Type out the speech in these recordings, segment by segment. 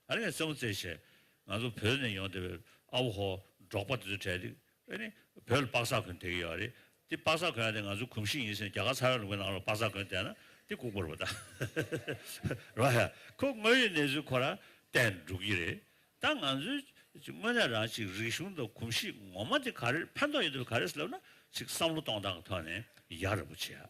ཨ་ནེ་རྩེ་མོ་རྩེ་བྱས། ང་ཚོ་བོད་ནས་ཡོང་བསྡད་པའི་ཨ་བོ་ཧོ། འབྲོག་པ་དེ་ཚོའི་གྲས་དེ། ཨ་ནེ། བོད་ལ་པགས་ཟ་གོན་བསྡད་ཀྱི་ཡོད་རེད། དེ་པགས་ཟ་གོན་ཡག་དེ་ང་ཚོའི་གོམས་གཤིས་ཡིན་ཟེར་ནས་རྒྱ་གར་ཚ་བའི་ལུང་པའི་ནང་ལ་པགས་ཟ་གོན་བསྡད་ན་དེ་ལྐུགས་པར་བ་ད། རོ་ཧེ། ཁོ་དངོས་ཡོད་གནས་ཚུལ་ཁོ་ར་བསྟན་འགྲོ་གི་རེད། ད་ང་ཚོའི། དངོས་གནས་རང་ཅིག་རིག་གཞུང་དང་གོམས་གཤིས་ངོ་མ་དེ་ག་རེར་ཕན་ཐོགས་ཡོད་འདོད་པ་ག་རེད་ཟེར་ལབ་ན་ཅིག་བསམ་བློ་གཏོང་སྟངས་ཐོག་ནས་ཡག་ར་བོ་བྱས་ཨ།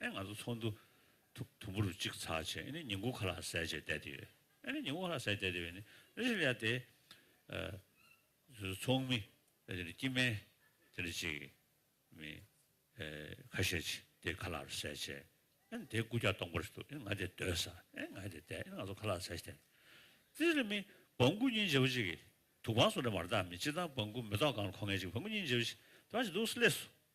ཨེ་ང་ཚོ་ཚོགས་འདུ་དུམ་བུ་རུ་གཅིག་ཚགས་ཆེད་ཨེ་ནི་ཉིན་དགུ་ཁ་ལག་ཟས་བཅད་བསྡད་དེ་ཡོད་ཨེ་ནི་ཉིན་དགུ་ཁ་ལག་ཟས་བསྡད་དེ་ཡོད་ནི་རེ་ཞིག་ལ་དེ་ཚོགས་མི་དེ་ནི་སྐྱིད་སྨན་དེ་ནི་ཅིག་མི་ཁ་ཤས་ཅིག་དེ་ཁ་ལག་རུ་ཟས་བཅད་ཨེ་ནི་དེ་སྐུ་རྒྱག་སྟོང་པར་ཞིག་འདུག་ཨེ་ནི་ང་དེ་སྡོད་ས་ཨེ་ནི་ང་དེ་བསྡད་ཨེ་ནི་ང་ཚོ་ཁ་ལག་ཟས་བསྡད་དེ་རེ་མི་བང་སྐུ་གཉིས་འཇལ་བོ་ཅིག་གིས་དུག་བང་སོ་རེ་མར་བཏགས་མི་སྤྱི་དང་བང་སྐུ་མི་གཏོགས་གང་ལ་མཁོ་ངེས་ཅིག་བང་སྐུ་གཉིས་འཇལ་བོ་ཅིག་ད་ཅི་འདུག་སི་ལེ་སོ།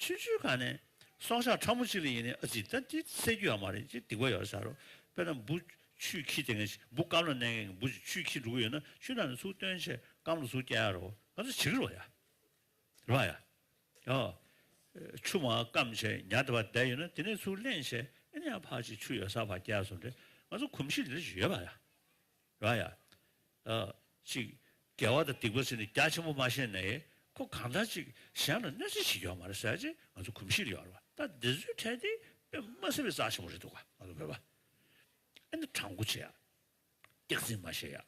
ཕྱིན་ཆོས་གང་ནས། སྲོག་ཆགས་ཕྲ་མོ་གཅིག་ལ་ཡིན་ནའི་ཨ་ཙི་ད་འདི་བསད་རྒྱུ་ཡང་མ་རེད་ཅེས་སྡིག་པ་ཡོད་ས་རུ་དཔེར་ན་འབུ། ཆུའི་ཁྱི་དེ་སྔས་འབུ་སྐམ་ལ་མནན་མཁན་གྱི་འབུ་ཞིག་ཆུའི་ཁྱི་འབྲུག་གི་ཡོད་ན་ཆུ་ནང་ནས་ཟུག་བཏོན་ཆེད་སྐམ་ལ་ཟུག་བསྐྱལ་ཡ་རོ་ང་ཚོ་བྱེད་ཀྱི་རོ་ཡ། རེད་མ་ཡ། ཡོ། ཆུ་མ་སྐམ་ཆེད་ཉག་དེ་བ་བསྡད་ཡོད་ན་དེ་ནས་ཟུག་བསླན་ཆེད་ཨེ་ནས་ཡང་ཕར་ཆེད་ཆུ་ཡོད་ས་བར་བསྐྱལ་སོང་དེ་ང་ཚོ་གོམས་གཤིས་འདི་འདྲ་ཞིག་ཡོད་མ་ཡ། ར་ཡ། ཅིག། རྒྱལ་བ་དང་སྡིག་པ་ཟེར་ནས་རྒྱ་ཆེན་པོ་མ་བཤད་ནས། ཁོ་གང་འདྲ་ཅིག་གཞན་ལ་གནོད་འཚེ་བྱེད་ཀྱི་ཡོད་མ་རེད་ཟེར་རྗེས་ང་ཚོ་གོམས་གཤིས་ལ་ཡོད་རེད་པ་ལྟ་འདི་ཚོའི་གྲས་དེ་དཔེ་མ་གསལ་བའི་རྩ་ཆེན་པོ་རེད་འདུག་ག་ང་ཚོ་བོད་པ། ཨེ་ནི་དྲང་པོ་བྱེད་ཡ། སྟེགས་འཛིན་མ་བྱེད་ཡ།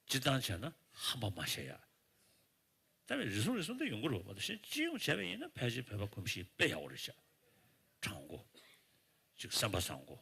སྤྱི་བཏང་བྱས་ན་ཧམ་པ་མ་བྱེད་ཡ། ད་བས་རེ་ཟུང་རེ་ཟུང་དེ་ཡོང་གི་རེད་བ་དང་གཞན་སྤྱི་ཡོངས་བྱས་པ་ཡིན་ན་ཕལ་ཆེར་བོད་པ་གོམས་གཤིས་དཔེ་ཡག་པོ་རེད་བྱ། དྲང་པོ། ཅིག་སེམས་པ་བཟང་པོ།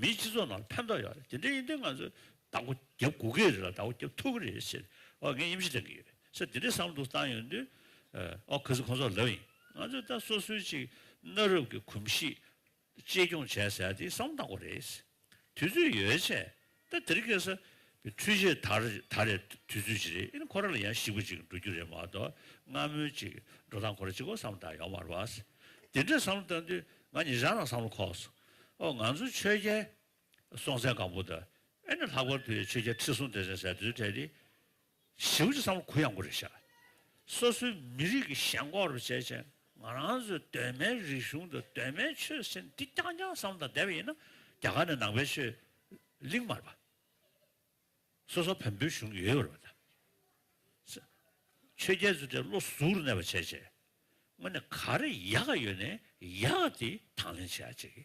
མིའི་སྤྱི་ཚོགས་ནང་ཕན་ཐོགས་ཡོད་རེད་དེ་འདྲ་ཡིན་དུས་ང་ཚོས་བདག་པོ་རྒྱབ་དགོས་ཀྱི་རེད་ལ་བདག་པོ་རྒྱབ་ཐུབ་ཀྱི་རེད་ཟེར་ཨོ་ངས་ཡིད་ཆེས་བཏང་གི་ཡོད་ཟེར་དེ་འདྲའི་བསམ་བློ་བཏང་ཡོད་དུས་ཨོ་གལ་སྲིད་ཁོང་ཚོར་ལབ་ཡིན་ང་ཚོས་ད་སོ་སོའི་ཅིག་གནའ་རབས་ཀྱི་གོམས་གཤིས་གཅེས་སྐྱོང་བྱས་ཟེར་ཡ་དེ་བསམ་བློ་བཏང་དགོས་རེད་དུས་ཚོད་ཡོལ་ཆད་ད་དེར་སྐྱེས་ས་འཕྲུལ་ཆས་དར་རེད་དུས་ཚོད་ཅིག་རེད་ཨེ་ནི་ཁོ་རང་ལ་ཡང་ཞིག་པ་ཅིག་འགྲོ་རྒྱུ་རེད་མ་གཏོགས་སྔ་མོའི་ཅིག་འགྲོ་སྟངས་ཁོ་རང་ཅིག་གོ་བསམ་བཏང་ཡོང་མ་རེད་བ། དེ་འདྲའི་བསམ་བློ་བཏང་དུས་ང་ཉིད་རང་རང་བསམ་བློ་ཁོག་སོང། ཨོ་ང་ཚོ་ཆོས་རྒྱལ་སྲོང་བཙན་སྒམ་པོ་ད་ཨེ་ནི་ལྷག་པར་དུ་ཡང་ཆོས་རྒྱལ་ཁྲི་སྲོང་ལྡེ་བཙན་ཟེར་དུས་དེ་ནི་ཞེ་བོ་ཅི་བསམ་བློ་གུ་ཡངས་པོ་རེ་བཞག་སོ་སོའི་མི་རིགས་ཀྱི་ཞེན་ཁོག་རུ་བྱས་བྱས་ང་རང་ཚོའི་གདོད་མའི་རིག་གཞུང་དང་གདོད་མའི་ཆོས་སེམས་འདི་རྐྱང་རྐྱང་བསམ་དང་བསྡད་པ་ཡིན་ན་རྒྱ་གར་ནས་ནང་པའི་ཆོས་གླིང་མར་པ་སོ་སོ་བོན་པོའི་གཞུང་གི་ཡོད་པར་བལྟ། ཆོས་རྒྱལ་ཚུལ་ཁྲིམས་བློ་གཟུགས་རུ་གནས་པ་བྱས་བྱས་དངོས་ནས་ག་རེ་ཡག་ཡོད་ནས་ཡག་དེ་དང་ལེན་བྱས་བྱས་ཀྱི་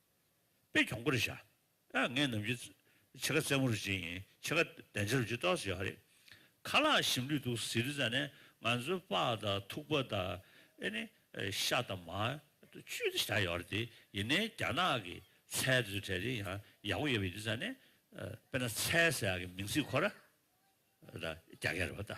པས་གྱོང་པོ་རེ་བྱ། ཨ་ངས་ནམ་རྒྱུན་ཕྱེད་ཀ་རྩེད་མོ་རུ་བརྗེ་ཡིན་ཕྱེད་ཀ་བདེན་ཆ་རུ་བརྗེ་ཏོག་ཟེར་ཡོད་རེད། ཁ་ལག་ཞིམ་ལུས་འདུག་ཟེར་རི་ཙ་ནས་ང་ཚོའི་ལྤགས་དང་ཐུག་པ་དང་ཨེ་ནི་ཤ་དང་མ། བཅུད་དུ་བཞག་ཡོད་རེད་དེ་ཡིན་ནའི་རྒྱ་ནག་གི་ཚལ་དེ་ཚོའི་གྲས་དེ་ཡང་ཡག་པོ་ཡོད་པས་རི་ཙ་ནས་དཔེར་ན་ཚལ་ཟེར་ཡག་གི་མིང་ཚིག་ཁོ་ར་རྒྱག་ཡ་རེད་པ་ད།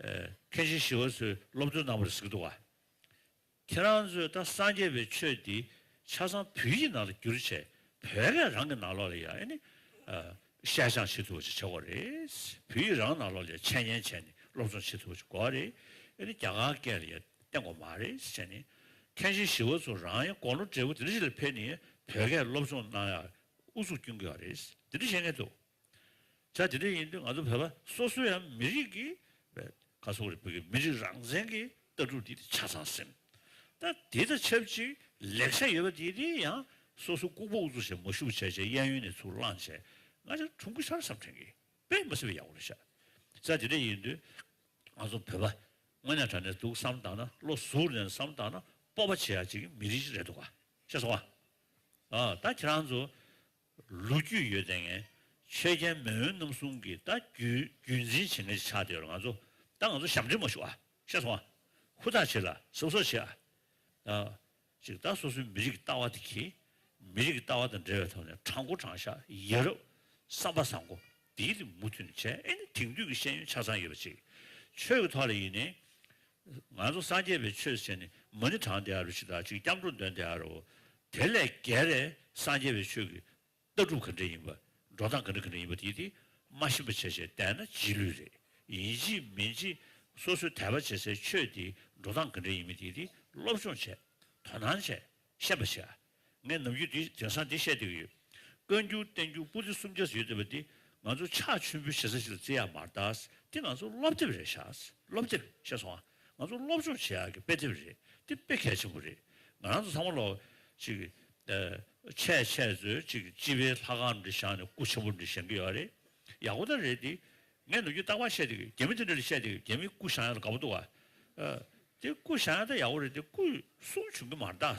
མཁན་ཆེན་ཞི་བ་འཚོའི་སློབ་སྟོན་གནང་བར་གཟིགས་འདུག་ག། ཁྱེད་རང་ཚོས་ད་སངས་རྒྱས་པའི་ཆོས་འདི་ཆ་ཚང་བོད་ཡིག་ནང་ལ་བསྒྱུར་ཆེད་བོད་སྐད་རང་གི་ནང་ལོགས་ལ་ཡང་ནི། བཤད་སྦྱང་བྱེད་ཐུབ་པ་ཞིག་བྱེད་དགོས་རེད། བོད་ཡིག་རང་ནང་ལོགས་ལ་འཆད་ཉན་བྱས་ནས་སློབ་སྦྱོང་བྱེད་ཐུབ་པ་ཞིག་དགོས་རེད། ཨེ་ནི་རྒྱ་གར་སྐད་ལ་ཡང་བསྟེན་དགོས་མ་རེད་བྱས་ནས། མཁན་ཆེན་ཞི་བ་འཚོ་རང་ཡང་དགོང་ལོ་བགྲེས་པོ་དེ་འདྲ་ཞིག་ལ་ཕེབས་ནས་བོད་སྐད་སློབ་སྦྱོང་གནང་ཡག་ཨུ་ཚུགས་བསྐྱུང་དགོས་ཡག་རེད། དེ་འདྲ་བྱེད་ངེས་འདུག། ཆ་དེ་འདྲ་ཡིན་དུས་ང་ཚོ་བོད་པ་སོ་སོ་ཡང་མི་རིགས་ཀྱི་བཀའ་སྲོལ་རིག་པ་གི་མི་རིགས་རང་བཙན་གྱི་ལྟ་གྲུབ་འདི་ཆ་ཚང་སེམས་ད་དེ་དང་ཆབས་ཅིག་ལེགས་ཆ་ཡོད་པ་དེ་དེ་ཡང་སོ་སོ་ལྐུག་པ་འུ་ཚོ་ཞེས་མ་ཤུགས་ཆེ་ཆེ་གཡས་གཡོན་ནས་ཚུར་བླངས་བྱས་ང་ཅག་གྲུང་ཁུ་ཤར་བསམ་དྲན་གི་དཔེ་མ་སྲིད་པ་ཡག་པོ་རེད་ཤག་ཆ་དེ་འདྲ་ཡིན་དུས་ང་ཚོ་བོད་པ་དངོས་གནས་དྲ་ནས་འདུག་བསམ་དང་ན་བློ་གཟུར་ནས་བསམ་དང་ན་སྤོབས་པ་བྱེད་ཡག་བྱེད་ཀྱི་མི་རིགས་ཤིག་རེད་འདུག་ག་ཤེས་སོང་ང་ད་ཁྱེད་རང་ཚོ་ལོ་རྒྱུས་ཡོད་ཚད་ངན། ཆོས་རྒྱལ་མེས་དབོན་རྣམ་གསུམ་གྱི་ད་རྒྱུའི་རྒྱུད་འཛིན་བྱེད་མཁན་ཞིག་ཆགས་བསྡད་ཡོད་ང་ཚོ་ད་ང་ཚོ་ཞབས་འདྲེན་མ་ཞུ་ཨ། ཤ་ཚོང་ཨ། ཧུར་ཐག་བྱེད་ལ་ཟུག་གཟེར་བྱེད་ཨ། ཅིག་ད་སོ་སོའི་མི་རིགས་ཀྱི་ལྟ་བ་དེ་གྱིས། མི་རིགས་ཀྱི་ལྟ་བ་དང་འབྲེལ་བའི་ཐོག་ནས་དྲང་བསྐུར་དྲང་བཞག་ཡིན་རབས་བསམ་པ་བཟང་གོ། འདིའི་རིང་མུ་མཐུད་ནས་བྱས་ཨེ་ནི་དེང་དུས་ཀྱི་ཤེས་ཡོན་ཆ་ཚང་ཡོད་པ་ཅིག་ཆོས་ཀྱི་ཐོག་ལ་ཡིན་ནི། ང་ཚོ་སངས་རྒྱས་པའི་ཆོས་སུ་བྱས་ནི་མ་ནི་གྲངས་དེའ་རུ་ཞིག་དང་གཅིག་སྐྱབས་འགྲོ་འདོན་དེའ་རུའོ། དེ་ལས་བརྒལ་རེ་སངས་རྒྱས་པའི་ཆོས་ཀྱི་ལྟ་གྲུབ་ག་འདྲའི་ཡིན་པ་འགྲོ་སྟངས་ག་འདྲ་ག་འདྲ་ཡིན་པ་དེའི་དེ་མ་ཤེས་པ་བྱས་བྱས་བསྡད་ན་རྗེས་ལུས་རེད་ཡིན་ཅི་མིན་ཅི་སོ་སོའི་དད་པ་བྱེད་སའི་ཆོས་དེའི་འགྲོ་སྟངས་ག་འདྲ་ཡིན་མིན་དེའི་དེ་སློབ་སྦྱོང་བྱས་དོ་སྣང་བྱས་ཤེས་པ་བྱས་ངས་ནམ་རྒྱུན་དེང་སང་འདི་བཤད་བསྡད་ཀྱི་ཡོད། བཀའ་འགྱུར་བསྟན་འགྱུར་པོ་ཏི་གསུམ་བརྒྱ་ཟིན་ཡོད་བསྡད་པ་འདི་ང་ཚོ་ཕྱག་མཆོད་འབུལ་བྱེད་ས་ཞིག་ལ་བརྩི་ཡག་མ་རེད་དཱ། འདི་ང་ཚོ་སློབ་དེབ་རེད་བཞག། སློབ་དེབ་ཤེས་སོང་ཨ། ང་ཚོ་སློབ་སྦྱོང་བྱེད་ཡག་གི་དཔེ་དེབ་རེད། འདི་དཔེ་གལ་ཆེན་པོ་རེད། ང་རང་ཚོ་ཚང་མ་ལ་ཅིག། ཆད་ཆད་ཚོས་ཅིག་སྤྱི་པའི་ལྷ་ཁང་འདི་བཞག་ནས་སྐུ་ཆེན་པོ་འདི་བཞེངས་ཀྱི་ཡོད་རེད། ཡག་པོ་ད་རེད་དེ། ངས་ནམ་རྒྱུན་རྟག་པར་བཤད་བསྡད་ཀྱི་རྒྱ་མི་དེ་འདྲ་ལ་བཤད་བསྡད་ཀྱི་རྒྱ་མིས་སྐུ་བཞག་ཡག་ལ་དགའ་པོ་འདུག་ཨ། དེ་སྐུ་བཞག་ཡག་ད་ཡག་པོ་རེད་དེ་སྐུ་སྲུང་བྱུང་གི་མ་རེད་དཱ།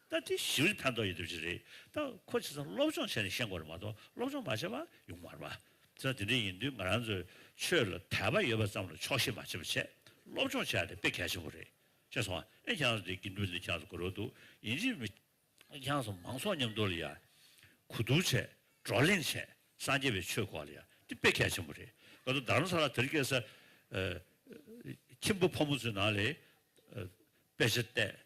ད་དེ་ཞིབ་རིས་ཕན་ཐོགས་ཡོད་དུ་ཅི་རེད་ད་ཁོ་ཆེ་ཚང་སློབ་སྦྱོང་བྱས་ནས་ཤེས་དགོས་རེད་མ་གཏོགས་སློབ་སྦྱོང་མ་བྱས་པ་ཡོང་མ་རེད་པ་ཚེ་ན་དེ་འདྲ་ཡིན་དུས་ང་རང་ཚོའི་ཆོས་ལ་དད་པ་ཡོད་པ་ཙམ་ལ་ཆོག་ཤེས་མ་བྱེད་པ་བྱས་སློབ་སྦྱོང་བྱས་ནས་དཔེ་གལ་ཆེན་པོ་རེད་ཤེས་སོང་ཨེ་ཁྱང་ཚོ་དེ་དགེ་འདུན་ལས་ཁྱང་ཚོ་གོ་རོག་འདུག་ཡིན་གཅིག་མི་ཨེ་ཁྱང་ཚོ་མང་ཚོགས་མཉམ་འདོར་ལ་ཡག་གོ་འདུག་བྱས་བགྲོ་གླེང་བྱས་སངས་རྒྱས་པའི་ཆོས་གོ་ལ་ཡག་དེ་དཔེ་གལ་ཆེན་པོ་རེད་ག་དུ་དར་མ་ས་ལ་དེར་སྐྱེས་ས་ཁྱིམ་བུ་ཕོ་མོ་ཚོའི་ནང་ལས་དཔེ་ཆ་བལྟས་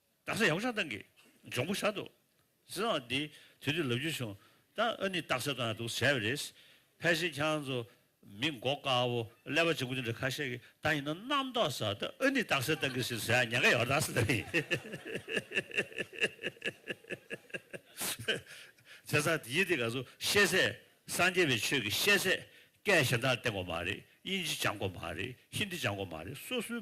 རྡ་ས་ཡག་པོ་ཆགས་གཏང་གི། འབྱུང་པོ་ཞག་འདུག། ཟེར་བ་འདི། དུས་དེར་ལབ་རྒྱུ་བྱུང། ད་ཨ་ནི་རྟགས་གསལ་གཏོང་ཡག་འདུག་ཟེར་བ་རེད། ཕལ་ཆེར་ཁྱེད་རང་ཚོ། མི་འགོ་དཀའ་བོ། ཀླད་པ་འཇིག་པོ་འདི་འདྲ་ཁ་ཤས་ཀྱི། ད་ཡིན་ན་རྣམ་རྟོག་ཟ། ད་ཨ་ནི་རྟགས་གསལ་གཏང་གི་ཟེར་ཟེར་ཡ་ཉག་ག་ཡག་པོ་རྡ་ས་འདི་རེད། ཟེར་ས་དེ་ཡིན་དེ་ག་ཚོ་ཤེས། སངས་རྒྱས་པའི་ཆོས་ཀྱི་ཤེས། སྐད་གཞན་དག་བསྟན་དགོས་མ་རེད། དབྱིན་ཇི་སྦྱང་དགོས་མ་རེད། ཧིན་དི་སྦྱང་དགོས་མ་རེད། སོ་སོའི།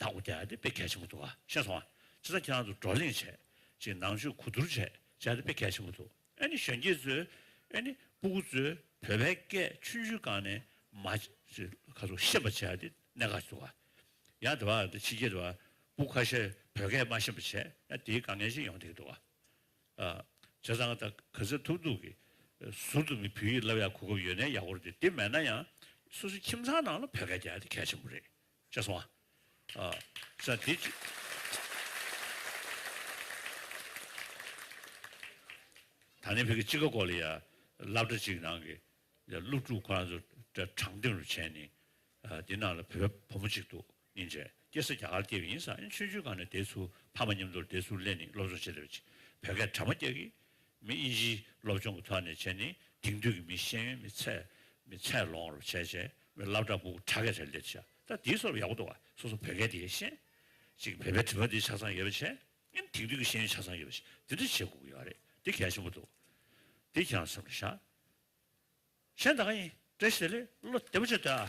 དང་པོ་དེ་དཔེ་གལ་ཆེན་པོ་འདུག་ཤེས་སོང། སྤྱིར་བཏང་ཁྱེད་རང་ཚོ་བགྲོ་གླེང་བྱས་རྗེས་ནང་ཆོས་གོ་བསྡུར་བྱས་རྗེས་དཔེ་གལ་ཆེན་པོ་འདུག་ཨ་ནི་གཞོན་སྐྱེས་ཚོས་ཨ་ནི་སྤུ་གུ་ཚོས་བོད་པའི་སྐད་ཆུང་ཆུང་གང་ནས་མ་ག་ཚོད་ཤེས་པ་བྱས་གནད་འགག་ཅིག་འདུག་ཡང་དེ་བ་ཕྱི་རྒྱལ་དུ་བ་སྤུ་ཁ་ཤས་བོད་སྐད་མ་ཤེས་པ་བྱས་ན་དེའི་དཀའ་ངལ་ཅིག་ཡོང་སྡད་ཀྱི་འདུག་བྱས་ཙང་ད་ག་ཚད་ཐུག་འདུག་གི་ཟུར་དུ་མི་བུ་ཡིས་ལབ་ཡག་གོ་སྐབས་ཡོད་ནའི་ཡག་པོ་རེད་དེ་མེད་ན་ཡང་སོ་སོའི་ཁྱིམ་ཚང་ནང་ལ་བོད་སྐད་དེ་གལ་ཆེན་པོ་རེད་བྱས་སོང། ཟ། དེ། ད་ནི་བོད་ཀྱི་དཔྱིད་ཀ་སྐོར་ལ་ཡ། ལབ་སྒྲ་གཅིག་ནང་གི། སློབ་ཕྲུག་ཁོ་རང་ཚོ། དྲང་བདེན་རུ་བྱས་ནས། དེ་ནང་ལ་བོད་བུ་མོ་གཅིག་འདུག་ཉིན་རེར་སྐྱེས་ས་རྒྱ་གར་སྐྱེས་པ་ཡིན་ས། ཡིན་ཆུང་ཆུང་ག་ནས་དེ་ཚུར་ཕ་མ་མཉམ་དུ་དེ་ཚུར་གླན་ནས་སློབ་སྦྱོང་བྱེད་ལེ་བྱེད། བོད་སྐད་གྲ་མ་སྐྱ་གིས། མི་དབྱིན་ཇིའི་སློབ་སྦྱོང་གི་ཐོག་ནས་བྱས་ནི་དེང་དུས་ཀྱི་མིའི་ཤེས་ཡོན་མི་ཚད་མི་ཚད་ལོང་རུ་བྱས་བྱས་མི་བསླབ་དྲ་འབུག་དྲ་གས་རེ་ལེ་བྱས་ད་དེའི་སོར་ཡག་པོ་འདུག་ཨ་སོ་སོ་བོད་སྐད་དེ་ཤེས་ཅིག་བོད་པའི་དྲི་བ་འདི་ཆ་ཚང་ཡོད་པ་བྱས་ཨིན་དེང་དུས་ཀྱི་ཤེས་ཡོན་ཆ་ཚང་ཡོད་པ་བྱས་འདི་འདྲ་བྱས་དགོ་གི་ཡོད་རེད་འདི་གལ་ཆེན་པོ་འདུག་འདི་ཁྱེད་རང་སེམས་ལ་བཞག་གཞན་ད་ག་ཡིན་བཀྲ་ཤིས་བདེ་ལེགས་བློ་བདེ་པོ་བྱས་སྡོད་ཨ།